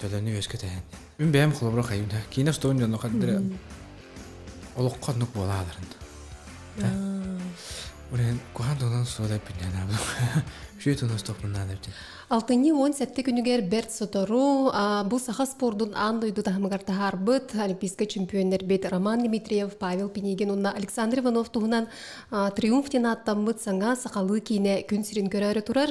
төлөнү үөскэтэһэн мин бэйэм холобура хайым да киинэ столун дьонно хаддыра олоххо нук буолааларын Урен кухан тонан суода пиннена бу. Үшү тонас топуннана битин. Алтыньы уон сәтте күнүгэр Берт Сотору бу саха спордун аан дойду таһымыгар таһаарбыт олимпийскай чемпионнер бет Роман Дмитриев, Павел Пинигин уонна Александр Иванов туһунан триумф диэн ааттаммыт саҥа сахалыы киинэ күн сирин көрөөрү турар.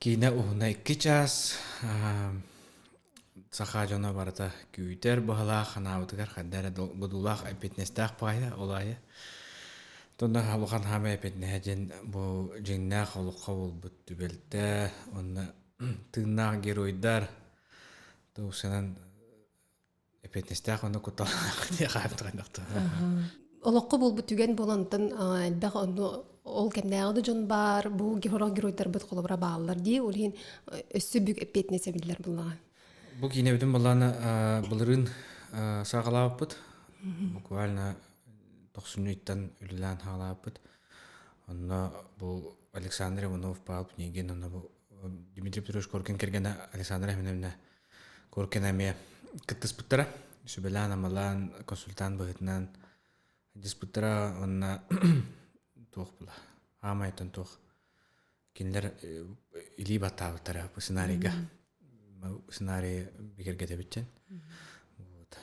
Киинэ уһуна икки чаас саха дьоно барыта күүтэр быһалаах анаабытыгар хайда эрэ будуулаах эппиэтинэстээх баайа ол аайы Тонна улахан хаама эппиэтинэһэ дьин бу дьиҥнээх олоххо буолбут түбэлтэ уонна тыыннаах геройдар то уксанан эппиэтинэстээх ону кутталаах олоххо буолбут түгэн буолантан элбэх ону ол кэмнээҕи дьон баар бу георг геройдарбыт холобура бааллар дии ол иһин өссө бүк эппиэтинэс эбиллэр былаҕа бу киинэ бүтүн баллаана былырыын саҕалаабыппыт буквально тохсунньуйтан үлэлээн хаалааппыт онно бу александр иванов паал княгин онно бу дмитрий петрович коркин кэргэнэ александра хименовна Куркин эмиэ кыттыспыттара. Сүбэлээн-амалаан, консультант быһыытынан дьыспыттара уонна туох була аамайыттан туох кинилэр илии баттаабыттара бу сценарийга сценарий бигэргэтэбитчэн вот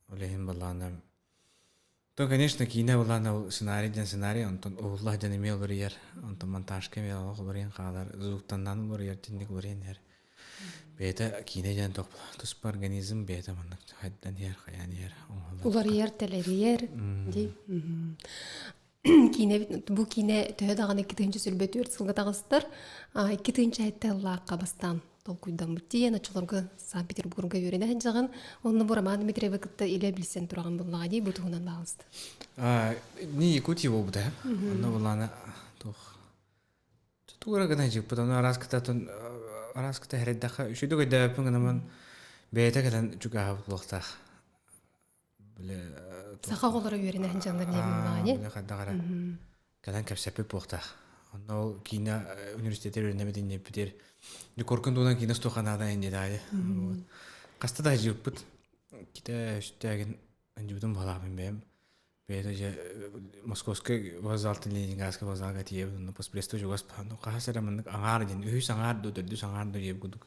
ол иһин балаҕана То, конечно, киинэ былаан ол сценарий диэн сценарий, онтон уһулла дьон эмиэ уларыйар, онтон монтажка эмиэ олох уларыйан хаалар, звуктаннаан уларыйар, тинник уларыйан иһэр. Бэйэтэ киинэ диэн тох туспа организм бэйэтэ маннык хайдан иһэр, хайаан иһэр уларыйар, тэлэрийэр дии. Киинэбит бу киинэ төһө даҕаны икки тыһыынча сүүрбэ түөрт сылга таҕыстар, икки тыһыынча этэ ыллаахха бастаан толкуйдаммыт тиийэн оччолорго Санкт-Петербурга үөрэнэ сылдьаҕын. Онно бу Роман Дмитриевы кытта илэ билсэн тураҕын буллаҕа дии бу туһунан баҕалыста. Ни Якутия буолбута. Онно буллаана туох тура гына жыппыт ону араас кытатын араас кыта хереддаха үшүдүк өйдөөппүн гынаман бэйэтэ кэлэн чугаһабыт лохтаах саха оҕолоро үөрэнэ сылдьаллар диэбин баҕаньы били хайдах эрэ кэлэн кэпсэппит буохтаах онно ол киинэ университетыгар үөрэнэбит инниппитигэр декоркун туһунан киинэ туохха наада инде даайы хаста да сдьыыппыт китэ үстээгин андьыбытым балаахпын бэйэм бэйэтэ дьэ московскай вокзалтан ленинградский вокзалга тиийэбит онно поспрестой чугас хаһыс эрэ маннык аҥаар диэн үһүс аҥаар дуу төрдүс аҥаар дуу диэбит курдук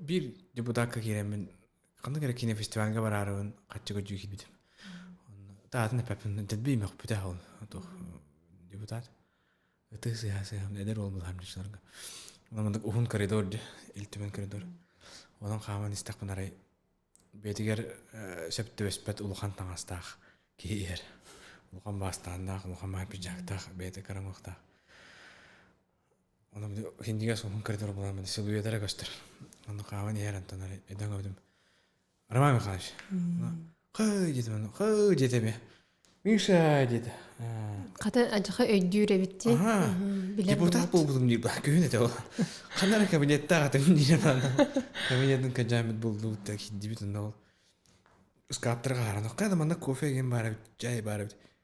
Биир дьокутаакка киирэммин ханнык эрэ кинофестивальга бараарыбын хаччы көдьүү киирбитим. Таатын эппиппин дэлби имэхпитэ аһын туох дьокутаат ытыы сыыһа сыыһам эдэр уол быһаарымчыларга маннык уһун коридор дьэ ил түмэн коридор онон хааман истэхпин арай бэйэтигэр сөп түбэспэт улахан таҥастаах киһи иһэр улахан баастааннаах улахан баһар пиджактаах бэйэтэ карамыхтаах Онон хиндигэ суолун көрдөр буламмын силуэт эрэ көстөр. Ону хааван иһэр антон ары дөҥөбүтүм. Роман Михайлович, хый диэтим аны, хый диэтим э. Миша диет. Хата адьаха өйдүүр эбит дии. Депутат буолбутум диир ба күһүн этэ ол. Ханара кабинеттаах атым диир кабинеттын каджамит булдубут да хиндибит онно ол. Скааптар хааран оққа да манна кофе ген баар эбит, чай баар эбит.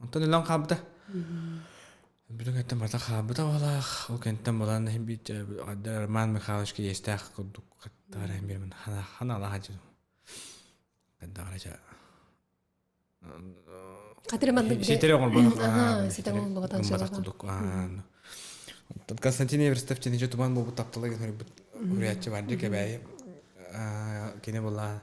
Онтон өлөн хаалбыта. Бүгүн кэнниттэн барыта хаалбыта уолаах. Ол кэнниттэн булан иһин биир Роман Михайлович кириэстээх курдук хаттаҕар иһин биэрмин ханаалаах адьы хайдаҕара дьэ Хатыр маннык ситэри оҥорбот ситэ оҥорбот гымматах курдук Онтон Константин Эверстов чиничэ туман буолбут таптала гын хөрбүт хөрүйаччы барды кэбээйи кини булаа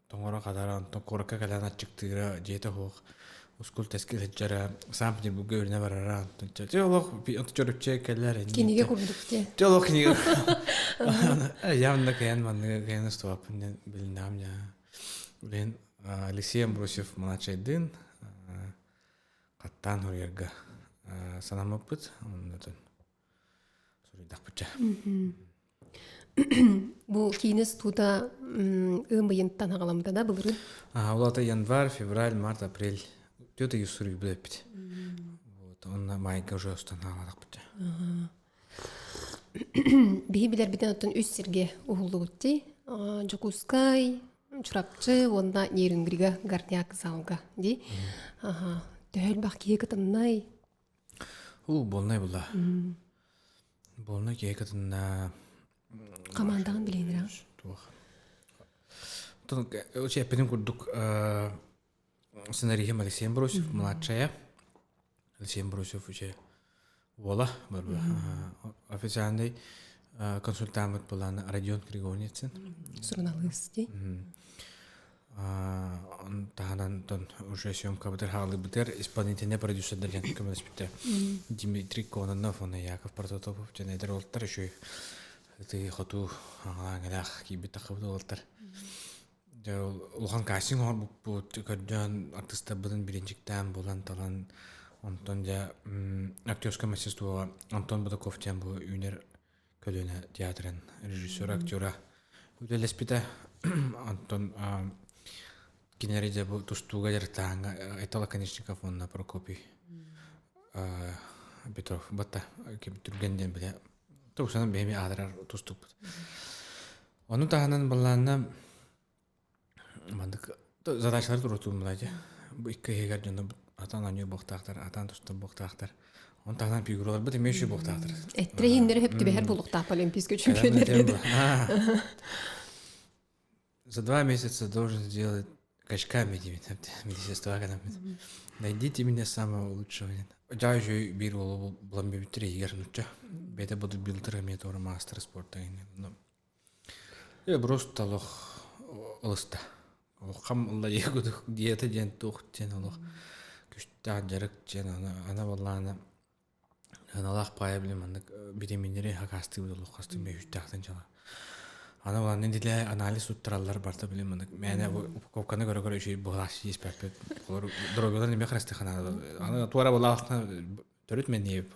тоҥоро хатара онтон куоракка кэлэн аччыктыыра дьиэтэ суох ускул тэски сылдьара сам петербурга үрүнэ барара онтон чэ олох онтон чорупча кэллэр кинигэ курдук диэн чэ олох кинигэ явно кээн манныга кээн устубаппын диэн билиннэм дьа блин алексей амбросьев младшайдыын хаттаан хоруйарга санаммыппыт оннутун суруйдахпытча бу киинис туута ыым ыйынтан аҕаламта да былырын улаата январь февраль март апрель түөрт ыйы суруй билэппит вот онно майга уже останаалаахпыт биһи билэрбитин оттон үс сирге уһуллубут ти дьокуускай чурапчы уонна нерюнгрига горняк залга ди төһөлбах киһи кытыннай Уу, буолнай була. Буолнай киһи кытынна. Командаҕын билиэнирэ. Туох. Очень эппитин курдук сценариһим Алексей Амбросьев младшая. Алексей Амбросьев үче уола барба. Официальный консультант буланы Родион Григорницын. Суруналыыс ди. таһынан уже съемкабытыр хаалыбытыгар исполнительный продюсердар диэн көмөлөспүттэр Дмитрий Кононов уонна Яков Прототопов дьон эдэр олоттар еще тыы хотуу аңалаах киирбит таххабыт олоттар улахан кастинг оҥорбуппут көрдөөн артыстарбытын биrinчиктээн булан талан онтон дьэ актерское мастерствоҕа антон бутаков диэн бу үүнэр көлүөнэ театрын режиссер актера үлэлэспитэ онтон кинереде бу тустууга дьарыктааһыҥҥа айтала конечников уонна прокопий петров бата түргэн диэн билэ тусанан бэйэми аатырар тустукпут ону таһынан баллаанна Маннык задачалар туруортуллубута дии. Бу икки иһигэр дьоно атаан оонньуур буохтаахтар, атаан тустар буохтаахтар. Оны таһынан фигураларбыт эмиэ үчүгэй буохтаахтар. Эттэри иһиннэри хөп түбэһэр булуохтаах Олимпийскай чемпионнар. За два месяца должен сделать качками диибит. Министерство кэнэпит. Найдите меня самого лучшего. Дьаа үчүгэй биир уолу булан бүбүттэр иһигэр нучча. Бэйэтэ будут билдер эмиэ туора маастер спорта Эброс толох ылыста улахам ыллайыгытык диета диэн туох диэн олох күстээх дьарык диэн аны аны буоллаана аналаах паайа билим маннык бириминнэри хакаастыыбыт олох хастыы бэһүстээхтэн дьала аны буоллаана дилэ анализ туттараллар барта билим маннык мээнэ упаковканы көрө көрө үчү быһылааш испэппит олор дорогулар эмиэ харыстыхана аны туора булаахна төрүт мэнээп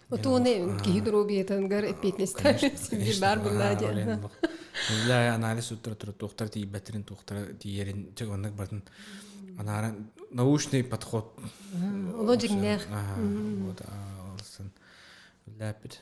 Отуоны киһи доруобуйатыгар эппиэтинэстээх сибиир баар буоллаа диэн. Биллэ анализ уттара тура туохтар тиийбэтэрин туохтара тиийэрин чек оннук батын анара научный подход. Оло дьиҥнээх. Вот алсын. Ләпит.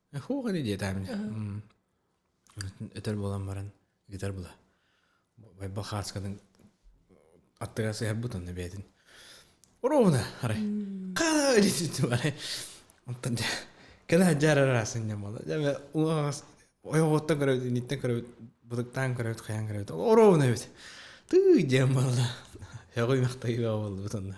Фух ини диэтэ мин өтөр буолан баран гитар була байбал хааскатын аттыгар сыһарбыт онно бэйэтин ровно арай хаа диситим арай онтон дьэ кэнэ хадьаар араа сынньан буола дьэ ойоҕуттан көрөбүт инниттэн көрөбүт бытыктаан көрөбүт хайан көрөбүт ровно эбит тыы диэн буолла өҕүй махтайыы буоллубут онно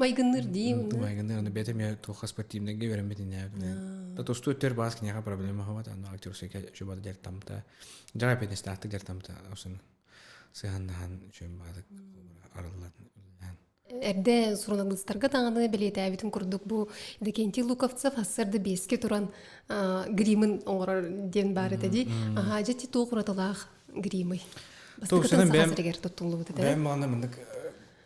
майгынныыр дии майгынныыр аны бэйэтэ эмиэ туох спортивнайга үөрэммит инээбитинэ то тустуу өттүгэр баас киниэхэ проблема хабат аны актёрсайка чубата дэр тамта жара пятнестаахтык дэр тамта осын сыһаннаһан үчүн баатык арыллан эрдэ суруналыыстарга даҕаны бэлиэтээбитим курдук бу Декентий Луковцев ассарда биэске туран гримын оҥорор диэн баар этэ дии аhaa дьэ ти туох уратылаах гримый бастакытын саха сиригэр туттуллубут этэ бэйэм мағына мындык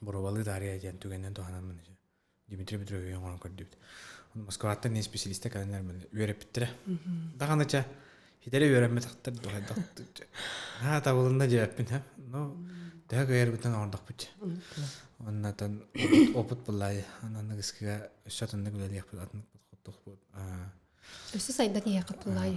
боруобалыы таарыйа диэн түгэнинэн туһанаммын Дмитрий Петрович өйөөн оҥорон көрдүбүт. Москваттан исписэлиистэ кэлэннэр үөрэппиттэрэ. Даҕаны ча хитэрэ үөрэммэтэхтэр дохайдахтык аа табылынна дьэппин һэ ну төһө кыйарбытын оҥордохпут оннатан опыт буллай ананнык ыскыга өссө атыннык үлэлиэхпит атыннык подходтухпут өссө сайдан иһэ капыллай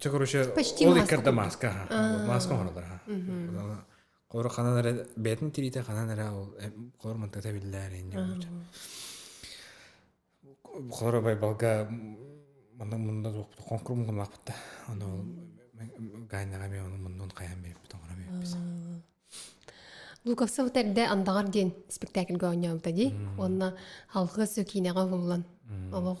Чэ, короче, ол иккэр да мааска, мааска оҥороллор, аха. Холоро ханан эрэ бэйэтин тириитэ ханан эрэ ол холоро мантыта биллээр Холоро байбалга мана мунна хоҥкур муҥумаахпыта. Аны ол гайнаҕа эмиэ ону муннун хайан биэрбит оҥоро биэрбит. Лукаса тэрдэ андаҕар диэн спектакльга оонньообута дии. Уонна алгыс киинэҕэ уһуллан олох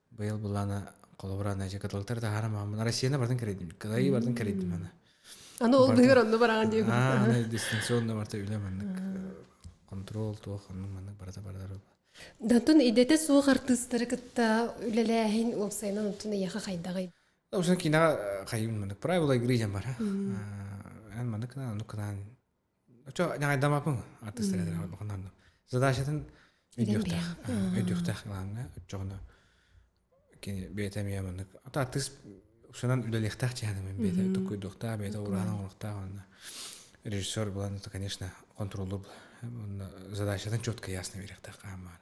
Быйыл былаана холобура Надя каталыктары таһаарам ааммын Россияны бардын кэрэйдим. Кыайыы бардын кэрэйдим аны. Аны ол быһыгар онно бараҕын дии. Аа, аны дистанционно барта үлэ маннык контрол туох оннук маннык барата бардар Дантон идэтэ суох артыыстары кытта үлэлээһин уопсайынан онтун эйиэхэ хайдаҕый? Обычно киноҕа хайым маннык правила игры дьэн бара. Эн маннык кынан оннук кынан Очо ньаҕайдамаппын артыыстарыгар задачатын өйдүөхтээх өйдүөхтээх кылааҥҥа оччоҕуна кини бэйэтэ эмиэ маннык ата артыыс уксанан үлэлиэхтээх чыһаныгын бэйэтэ токуйдуохтаах бэйэтэ ураһан оҥоруохтаах уонна режиссер булан это конечно контроллур уонна задачатын четко ясно биэриэхтээх хаһан баар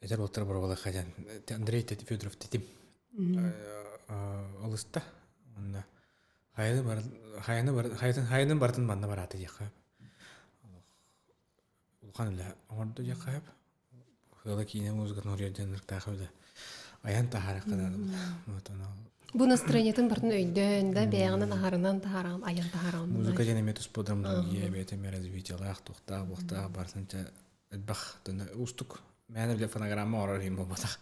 Эдэр уолтара боруобалаахха диэн Андрей Федоров тэтим олуста уонна хайаны бар хайаны бар хайанын барытын манна бараата диэххэ улахан үлэ оҥордо диэххэ сөп сыала киинэ музыкатын уруйар диэн ырыктаах үлэ айан таһаарыахха наада бу настроениетын бартын өйдөөн да бэйэҕинэн аһарынан таһаараҕын айан таһаараҕын музыка диэн эмиэ туспа драматургия эбэтэр развитиелаах туохтаах буохтаах барытын чэ Элбэх дэнэ уустук мээнэ бile фонограмма оҥорор иһин буолбатах.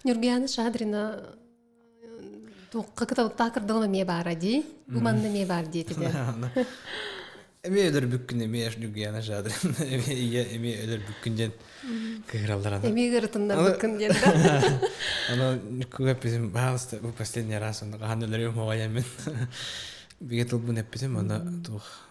Ньургуйаана Шадрина туохха кыталыктаах кырдалына эмиэ баара дии. Бу манна эмиэ баар диэтиде. Эмиэ өлөрбүккүн эмиэ Ньургуйаана Шадрина эмиэ эмиэ өлөрбүккүн диэн кыһыралларана. Эмиэ ырытыннарбыккын диэн да. Ону күгэппитим баһаалыста бу последний раз онно хаһан өлөрүм моҕайаммын. Бигэ тылбын эппитим, аны туох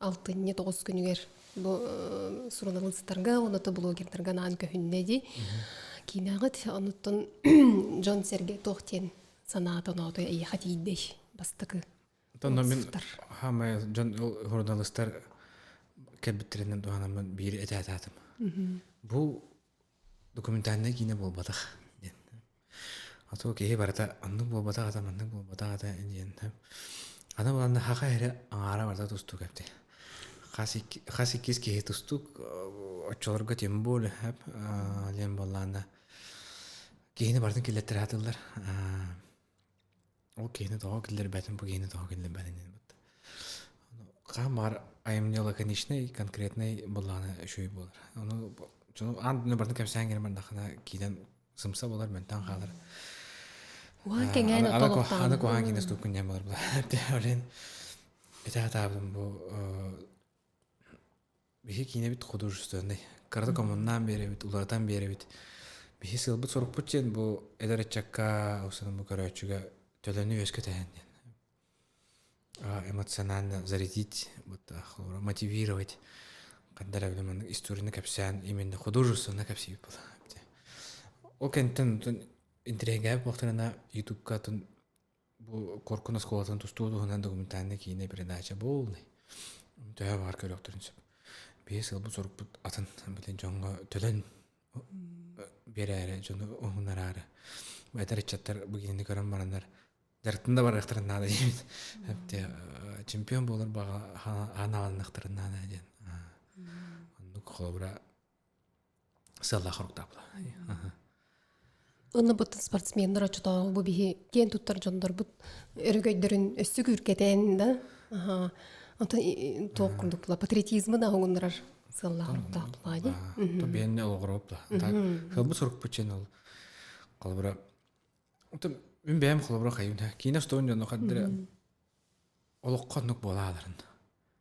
алтынньы тоҕус күнүгэр бу суруналыыстарга уонна блогердарга анаан көһүннэ дии киинэҕит онуттан дьон сэргэ туох диэн санаата оноотой эйиэхэ тиийдэй бастакы Тонно мин хаамай дьон журналистар кэлбиттэринэн туһанаммын биири этээтаатым бу документальнай киинэ буолбатах диэн а то киһи барыта оннук буолбатах ата маннык буолбатах ата диэн аны булан хаха эрэ аҥаара барыта тустук эбит хас икки хас иккис киһи тустук оччолорго тем более диэн буоллаана киһини барытын киллэттэри сатыыллар Ол киһини тоҕо киллэрбэтим, бу киһини тоҕо киллэрбэтин ылбыт. Хаһан баар айымньыла конечнай, конкретнай былаана үчүгэй буолар. Ону аан дойду барытын кэпсээн кэлэн бардаххына киинэн сымса болар, мөлтөөн хаалар. Уһаан кэҥээн олохтоон. Аны куһаан киинэ стуккун диэн болар. Орден итэ атаабытым бу Биһи киинэбит художественнай. Кырата коммунаан биэрэбит, улаатан биэрэбит. Биһи сыалбыт-сорукпут диэн бу эдэр ыччакка, устунан бу көрөөччүгэ төлөнү үөскэтэһэн диэн. эмоционально зарядить, мотивировать. Ханна эрэ билим маннык историяны кэпсээн именно художественно кэпсиибит була. Ол кэнниттэн интригээбит буолтарына ютубка тун Бу Коркун оскуолатын тустуу туһунан документальнай киинэ передача буолунай. Төһө баар көрөхтөрүн сөп. Биэс сыл бу сорукпут атын битин дьоҥҥо төлөн биэрээри дьону уһунараары. Этэр ыччаттар бу кинини көрөн бараннар дьарыктан да барыахтарын наада диибит. Чемпион буолар баҕа ханаалынахтарын наада диэн. Оннук холобура Сыаллаах хоруктаабыла. Ынныбыттан спортсменнар оччотооҕу бу биһи киэн туттар дьоннорбут өрөгөйдөрүн өссө күүркэтээн да онтон туох курдук була патриотизмын аһугуннарар сыаллаах хоруктаах була ди то биэнне олоҕуропта так хылбы сурукпуччен ол холобура отон мин бэйэм холобура хайын киинэ студент дьоно хаддыра олоххо оннук буолааларын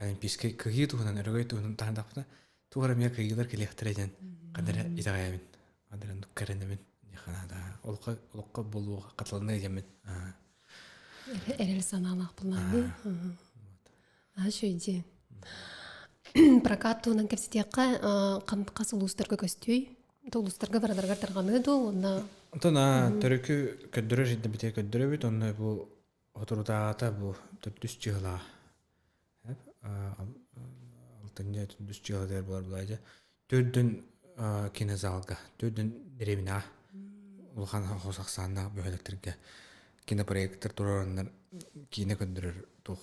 олимпийскай кыһыы туһунан өрөгөй туһунан таһаардахпына туох эрэ эмиэ кыйыылар кэлиэхтэрэ диэн қадара итэҕэйэбин қадара оннук кэрэнэбин да олоххо олоххо буолуоҕа хатыланна диэммин эрэл санаалаах былаанныы аһа үчүгэйдиэн прокат туһунан кэпсэтиэххэ хас улуустарга көстүүй улуустарга бараргар тарҕаныа дуо уонна онтон төрүкү көрдөрөр жиддэ битиэ көрдөрөбүт онно бу Соторутааҕыта бу төрдүс дьыалаҕа алтынньы төрдүс дьыалатыгар буолар буолаай дьэ төрдүн кинозалга төрдүн дэриэбинэҕэ улахан хос ахсааннаах бөһүөлэктэргэ кинопроектор туруораннар киинэ көрдөрөр туох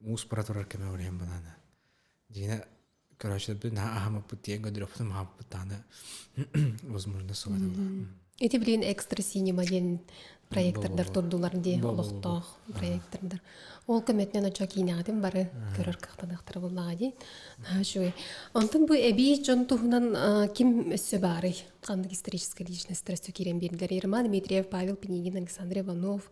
мууспара турар кэмэ улахан бынаана дьиҥэ короче наһаа аһаммыппыт тиийэн гардеробтан аһаппыт даана возможно суоталаах ити билин экстра синема диэн проектордар турдулар дии олохтоох проектордар ол көмөтүнэн очо киинэҕитин бары көрөр кыахтаныахтара буоллаҕа дии үчүгэй онтон бу эбии дьон туһунан ким өссө баарый ханнык историческая личносттар өссө киирэн биэрдилэр ерман дмитриев павел пинигин александр иванов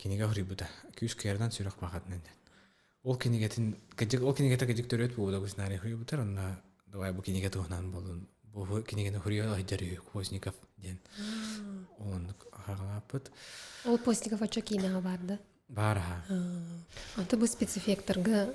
кинигэ хоруйбута күүскэринэн сүрэх баҕатынан ол кинигэтин кыдьык ол кинигэтэ кыдьык төрүөт буолута гусинарий хоруйбутар онно давай бу кинигэ туһунан болун бу кинигэни хоруйа айдар үһү Козников диэн ол оннук хаҕалааппыт ол Постников оччо киинэҕэ баар да баар аха анты бу спецэффекторга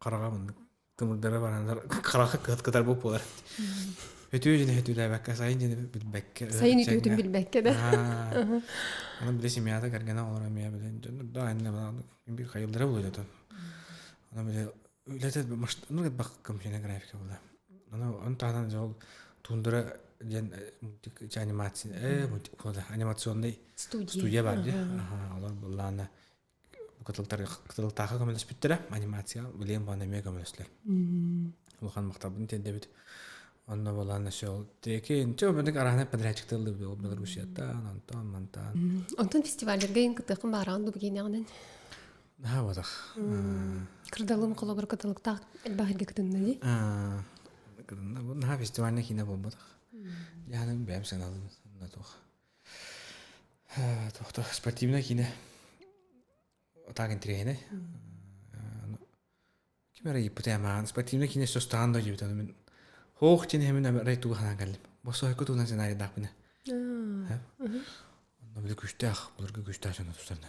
хараҕа муннук тымырдара бараннар хараҕа кыат кытарбыт буолар үтүө дьини өтүүлээбэккэ сайын дьини билбэккэ сайын үтүөтүн билбэккэ да аны били семьята кэргэнэ олоро эмиэ били дьон да айанна биир хайыллара буолуо дото аны били үлэтэ ну бах коммуникативная графика была аны он таһынан дьол туундара диэн мультик анимация э мультик була анимационный студия бар дии олор буллаана кытылтаахха көмөлөспүттэрэ анимация билиэн баҕана эмиэ көмөлөстүлэр улахан махталбын тиэрдэбит онно буолан өссө ол тиэки чэ бэдик араһынай подрядчиктыыллар белоруссияттан онтон мантан онтон фестиваллерге ин кытыахын баараан дубу киинэҕинэн наһаа буолах кырдалым холобур кытылыктаах элбаһырга кытынна ди наһаа фестивальный киинэ буолбатах яханым бэйэм саналым онно туох Тохто спортивнай киинэ так интириэһинэй ким эрэ ыйыппытым ааҕан спортивнай киинэ сустаан да диэбитэ мин һуох диэн иһэмин амарай туга санаан кэллим босхойку туунан сценарийдаахпына онно били күүстээх былыргы күүстээх дьоно тустарына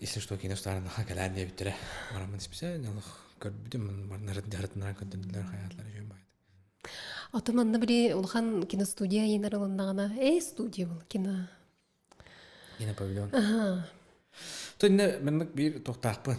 если что кино стаарынан ха кэлээн диэбиттэрэ бараммын исписээн олох көрбүтүм барнарын дьарытынан көрдөрдүлэр хаyaтлар үчүн баайт Ото манна бири улахан киностудия айынар ылыннаҕына эй студия бол кино кино павильон аха то инне маннык биир тохтаахпын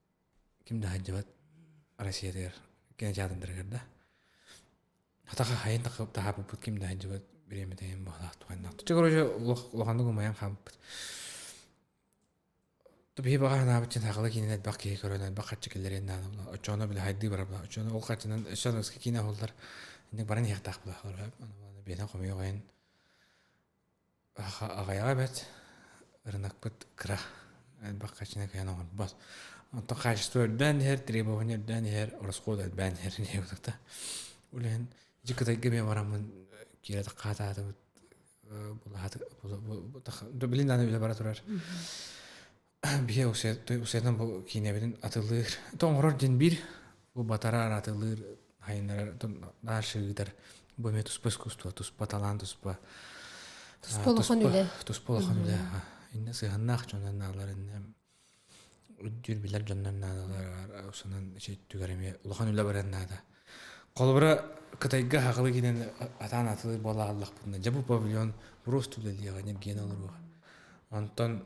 ким да сылдьыбат Россиятыгар кинотеатрдарыгар да атаха хайын таһаарбыппыт ким да сылдьыбат бириэмэ тэйэн баһылаахтык айаннаахтыт дьэ короче улаханнык умайан хаалбыт биһи баҕа санаабыт саахала киинэн элбэх киһи көрөн элбэх харчы киллэриэн наада була оччону били хайдыы бара була оччону ол харчынан өссө аныгыскы киинэ аһуллар инник баран иһиэхтээх була олорбо биэнэн хомуйуох айан Аҕыйаҕа эбээт ырынакпыт кыра, элбэх хачыҥакайан оҥорбот. Онтон хаачество элбээн иһэр, требование элбээн иһэр, ороскуот элбээн иһэр ини утата. Ол иһин дьэ Кытайга эмиэ бараммын киирэ хаатаатыбыт былаһааты, билигин аны үлэ бара турар. Биһиэхэ усуйа усуйатан бу киинэбитин атылыыр то оҥорор диэн биир бу батараар атылыыр сайыннарар дальше ыытар бу эмиэ туспа искусство туспа талаан туспа туспа улахан үлэ туспа улахан үлэ иннэ сыһыаннаах дьоннор нааллар иннэ үрдүүр билэр дьоннор наалалар усунан ичи түгэр эмиэ улахан үлэ баран наада холобура кытайга хахылы киинэн атаан атылыыр буолааллахпытына дьэ бу павильон просто үлэлиэҕэ ньиргиэнэ олоруоҕа онтон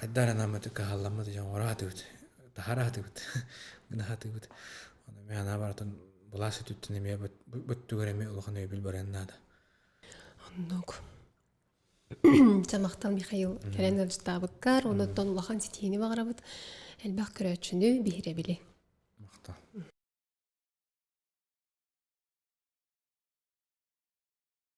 хайдах эрэ наммытык каһалламмыт дьоҥҥоро аһатыбыт таһара аһатыбыт гына аһатыбыт ону эмиэ анаа барытын былаас өтүттэн эмиэ бөттүгэр эмиэ улахан өйөбүл барыан наада оннук самахтал михаил кэлэн ыалдьытаабыккар онуттан улахан ситиини баҕарабыт элбэх көрөөччүнү биһирэбили махтал